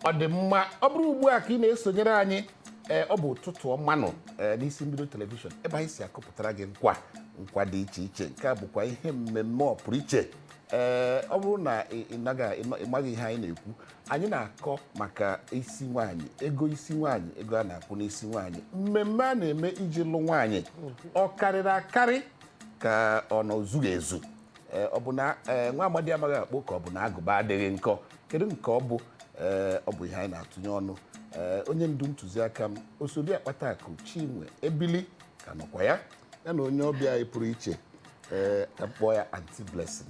ọ dị mma ọ bụrụ ugbu a ka ị na-esonyere anyị ee ọ bụ ụtụtụ ọma nụ ee n'isi mbido telivishọn ebe anyị si akọpụtara gị nkwa nkwa dị iche iche nke a bụkwa ihe mmemme pụrụ iche ee ọ bụrụ na ị ị naghị- ị nọ- ị maghị ihe anyị na-ekwu anyị na-akọ maka isi nwaanyị ego isi nwaanyị ego a na-akwụ n'isi nwaanyị mmemme a na-eme iji lụ nwaanyị ọ karịrị akarị ka ọ na o zughị ezu Ee, ọ bụ na ee, nwa amadi amaghị akpụ ka ọ bụ na agụba adịghị nkọ kedu nke ọ bụ Ee, ọ bụ ihe anyị na-atụnye ọnụ Ee, onye ndu ntụziaka m osodi akpata akụ Chinwe Ebili ka nọkwa ya ya na onye ọbịa anyị pụrụ iche ee ka m kpọọ ya Auntie Blessing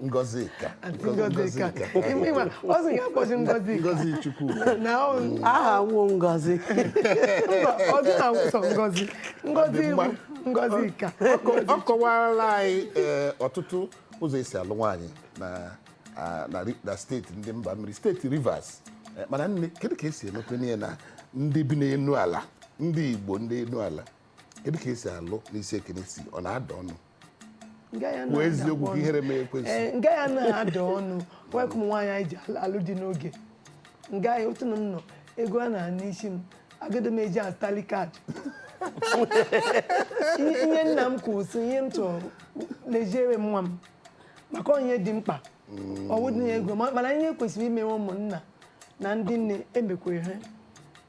Ngozika. Auntie Ngozika. Ịma, ọ sị ya kpọzi Ngozika. Ngozi Chukwu. Na ọ- aha m wụ Ngozi mba, ọ dị na nwụsọ Ngozi. Ngozi Ọ dị mma. bụ Ngozika. ọ kọwarala anyị ee, ọtụtụ ụzọ e si alụ nwaanyị na a- na ri- na steeti ndị mba mmiri steeti Rivers Eh, mana nne kedu ka e si emekwe n'ihe na ndị bi n'elu ala ndị Igbo ndị elu ala kedu ka e si alụ n'isi ekene si ọ na-ada ọnụ kwuo eziokwu ka ihere mee ekwensu ee nga ya na-ada ọnụ wee ka ụmụ nwaanyị anyị ji al- alụ di n'oge nga ya otu na m nọ ego a na-ana n'isi m agadi m eji azụtali kaadị Ihe- ihe nna m kwuru sị ihe m chọrọ leziere m nwa m maka ihe dị mkpa ọ wụdị na ego ma- mana ihe kwesịrị imewe ụmụnna na ndị nne emekwere ha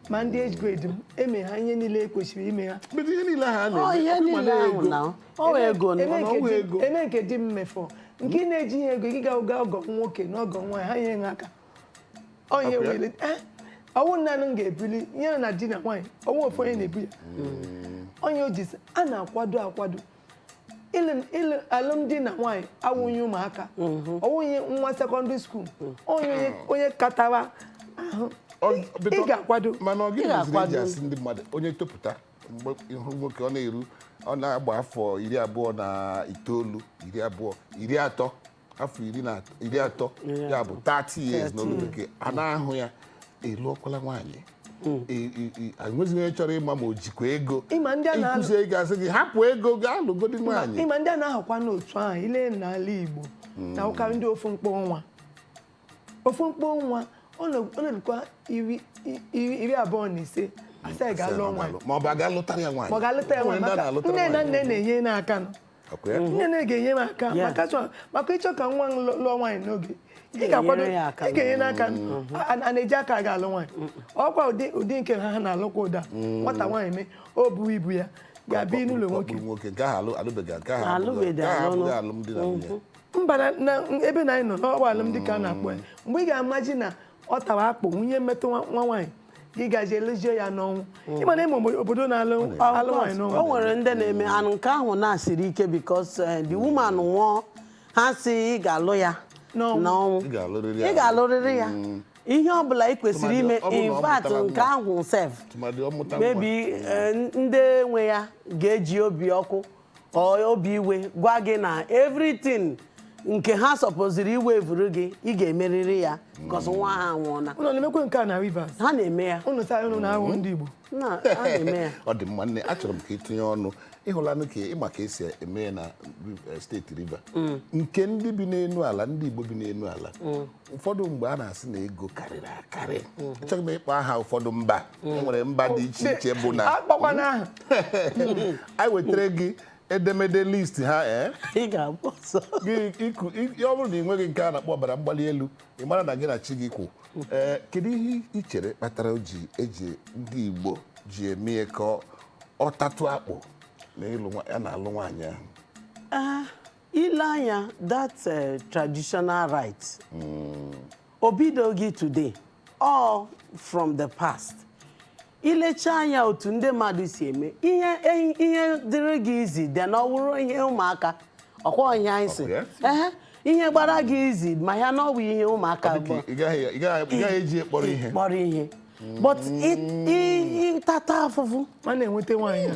ma ndị age grade m eme ha ihe niile e kwesịrị ime ha Mgbe ihe niile ha Ọ na-eme ihe ọkụ ma niile ahụ na-ego. na ọ wee ego Eme na nke ọnwụ di- ego. eme nke di m mefọ nke ị na-eji ihe ego gị ga ụga ọgọ nwoke na ọgọ nwaanyị ha nyere ha aka Ọ ihe Ọkụ ya? wele eh, ọ wụ naanị m ga-ebuli ihe na di na nwaanyị ọ wụ ofu onye na-ebu ya onye o ji sị, a na-akwado akwado alụmdi na nwaanyị awụghị ụmụaka ọwụghị mhm. nwa secondary school mhm. onye onye katara ahụ ị ga-akwado mana ọ gịnị meziri e ji asị ndị mmadụ onye topụta mgbe ị hụ nwoke ọ na-eru ọ na-agba afọ iri abụọ na itoolu iri abụọ iri atọ afọ iri na atọ- iri atọ ya bụ 30 years n'olu bekee a na-ajụ ya ị lụọkwala nwaanyị I- i- i- enweghị onye chọrọ ịma ma o jikwa ego Ịma ndị a na-alụ- i kwuzi ego a sị gị hapụ ego gaa lụgodi nwaanyị ịma ndị a na-ahụkwa n'otu ahụ ile n'ala Igbo na-awụkarị ndị ofu mkpọ nwa ofu mkpọ nwa ọ na-erukwa iri abụọ na ise a sị ya ga alụ nwa ma ọ bụ a ga lụtara ya nwaanyị ma ọ ga-alụta ya nwaanyị maka nne na nna na-enye ya aka nọ nne na ga-enye m aka maka ịchọ ka nwa lụọ nwaanyị n'oge ị ga-akwado ị ga-enye ya aka a na-eji aka aga alụ nwaanyị ọkwa ụdị nke ha ha na-alụkwa ụda mm. nwata nwaanyị mee o bu ibu ya ga-abịa n'ụlọ nwoke nwoke nke ahụ alụbeghị nke ahụ alụbeghị alụmdi na nwunye mm-hmm. mba na na ebe na anyị nọ n'ọgba alụmdi ka a na-akpọ ya mgbe ị ga-amaji na ọ tawa akpụ wụ ihe metụ nwa nwa nwaanyị ị ga-alụzi ya n'ọnwụ ịma na ịma obo- obodo na-alụ alụ nwaanyị n'ọnwụ o nwere ndị na-eme and nke ahụ na-esiri ike because eh, the woman nwụọ ha sị ị ga-alụ ya N'ọnwụ. n'ọnwụ Ị ga-alụrịrị ya. ị ga-alụrịrị ya ihe ọ bụla ị kwesịrị ime Tụmadị ọ bụrụ na ọ in fact mụtara nke nwa. ahụ sef Tụmadị ọ mụta nwa. maybe eh, ndị nwe ya ga-eji obi ọkụ or obi iwe gwa gị na everything nke ha sọpoziri iwevuru gị ị ga-emerịrị ya because nwa ha anwụọla ụnụ na-emekwe nke a na Rivers ha na-eme ya ụlọ saa ụlọ na-ahụ ndị Igbo na ha na-eme ya ọ dị mma nne achọrọ m ka ị tinye ọnụ ị hụlanụ ka ị ma ka e si eme ya na eh, steeti Rivers nke ndị bi n'elu ala ndị Igbo bi n'elu ala ụfọdụ mgbe a na-asị na ego karịrị akarị achọghị m ịkpọ aha ụfọdụ mba e nwere mba dị iche iche bụ na akpọkwana aha anyị wetara gị edemede list ha ee ị ga-agba ọsọ gị iku i- ọ bụrụ na ị nweghị nke a na-akpọ ọbara mgbali elu ị mara na gị na chi gị kwụ ee kedu ihe ị chere kpatara o ji eji ndị Igbo ji eme ya ka ọ- ọ tatụ akpụ na ịlụ nwa- ya na-alụ nwaanyị ahụ i lee anya that eh, traditional right o bidoghị today all from the past i lecha anya otu ndị mmadụ si eme ihe eh, ihe dịrị gị easy dị na ọ wụrụ ihe ụmụaka ọkwa ihe anyị si Ọ bụ ya? Ehe, ihe gbara gị easy ma ya na ọ bụ ihe ụmụaka Ọ dị bụ ka ị gaghị ị gaghị- ị gaghị eji ya kpọrọ ihe kpọrọ ihe but ị- ị- ị tata afụfụ ma na-enweta nwaanyị a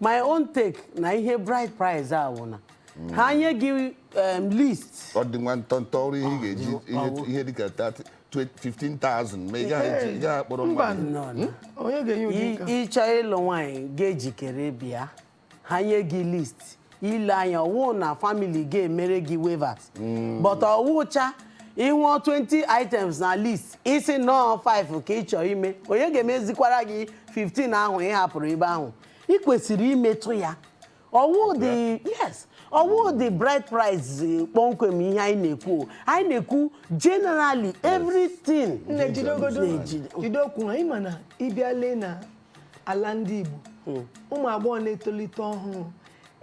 my own take na ihe bride price a wụ na ha nye gị um, list ọ dị nwa ntọntọ ọ wụrụ ihe ị ga-eji ihe- ihe dịka 30 20 15,000 ma ị gaghị eji- ị gaghị akpọrọ mba mmadụ nọ na onye ga-enye ụdị I- nke a? ị chọọ ịlụ nwaanyị ga-ejikere bịa ha nye gị list i lee anya ọ wụ na family ga-emere gị waivers hmm. but ọ wụcha ị hụọ 20 items na list ị sị na ọ 5 ka ị chọrọ ime onye ga-emezikwara gị 15 ahụ ị hapụrụ ebe ahụ ị kwesịrị imetụ ya ọ wụdị yes ọ wụdị bride price eh, kpọmkwem ihe anyị na-ekwu anyị na-ekwu generally everything na-ejide okwu ha ị ma na ị bịa lee na ala ndị Igbo hmm. ụmụ agbọghọ na-etolite ọhụrụ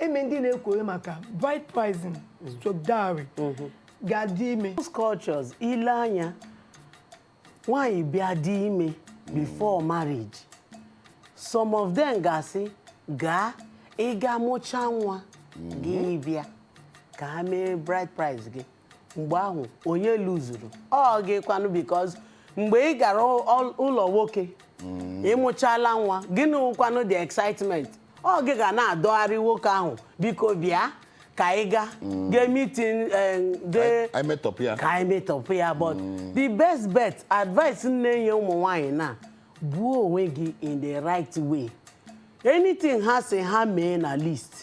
eme ndị na-ekwere maka bride pricing hmm. stroke dowry hmm. ga-adị ime most cultures i lee anya nwaanyị bịa dị ime before marriage some of them ga-asị gaa ị ga-amụcha nwa gị bịa ka ha mee bride price gị mgbe ahụ onye luzuru ọ gị kwanụ because mgbe ị gara ụ- ụlọ nwoke ịmụchala nwa gịnị wụkwanụ the excitement ọ gị ga na-adọgharị nwoke ahụ biko bịa ka anyị ga meeting ka anyị metọpụ ya but the best bet advice m na-enye ụmụ nwaanyị na buo onwe gị in the right way anything ha sị ha mee na list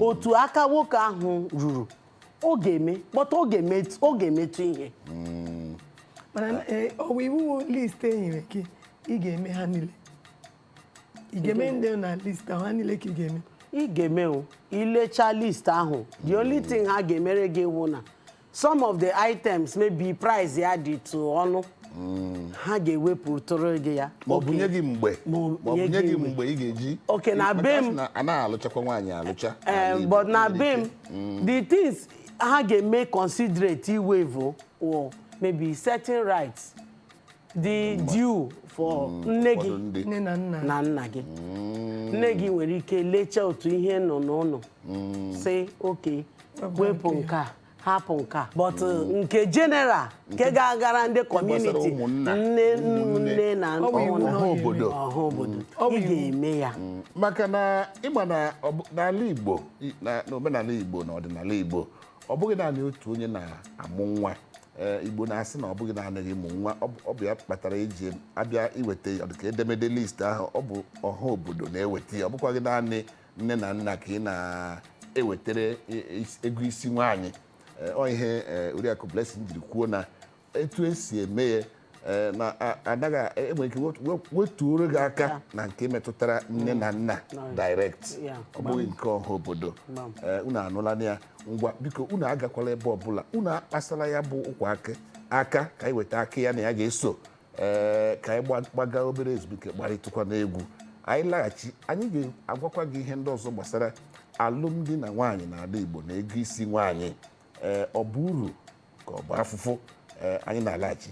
otu aka nwoke ahụ ruru ọ ga-eme but ọ ga-eme ọ ga-emetụ ihe mana eh, ọ bụ iwu list e nyere gị ị ga-eme ha niile ị ga-eme ndị na list ahụ ha niile ka ị ga-eme ị ga-eme o ilecha list ahụ the only thing ha ga-emere gị wụ na some of the items maybe price ya dị tụ ọnụ ha ga-ewepụtụrụ gị ya ma ọ bụ nye gị mgbe ma ọ bụ nye gị mgbe ị ga-eji Okay, na be m- anaghị alụchakwa nwaanyị alụcha Eh, but na be m mm. the things ha ga-eme considerate iwaive or maybe certain rights dị mm. due for mm. nne gị na nna gị nne gị nwere ike lechaa otu ihe nọ n'ụlọ sị okay wepụ nke a hapụ nke a but uh, nke general nke ga-agara ndị community nne na ọha obodo ị ga-eme ya maka na ị ma na n'ala Igbo I- na n'omenala igbo na ọdịnala igbo ọ bụghị naanị otu onye na-amụ nwa Ee, igbo na-asị na ọ bụghị naanị gị mụ nwa ọ bụ- ọ bụ ya kpatara eji abịa iweta ọdịka edemede list ahụ ọ bụ ọha obodo na-eweta ya ọ bụkwaghị naanị nne na nna ka ị na-ewetara i- is- ego isi nwaanyị Ee, ọ ihe ee, Oriakụ Blessing jiri kwuo na etu esi eme ya ee, na a- anaghị a- enwere ike wet- wet- wetuoro gị aka na nke metụtara nne na nna direct Yeah. ọ bụghị nke ọha obodo Gbam. Ee, unu anụlanụ ya ngwa biko unu agakwala ebe ọbụla unu akpasala ya bụ ụkwa aka aka ka anyị weta akị ya na ya ga-eso ee ka anyị gba- gbaga obere ezumike gbarịtụkwa n'egwu anyị laghachi anyị ga-agwakwa gị ihe ndị ọzọ gbasara alụmdi na nwaanyị na ala Igbo na ego isi nwaanyị ee ọ bụ uru ka ọ bụ afụfụ ee anyị na-alaghachi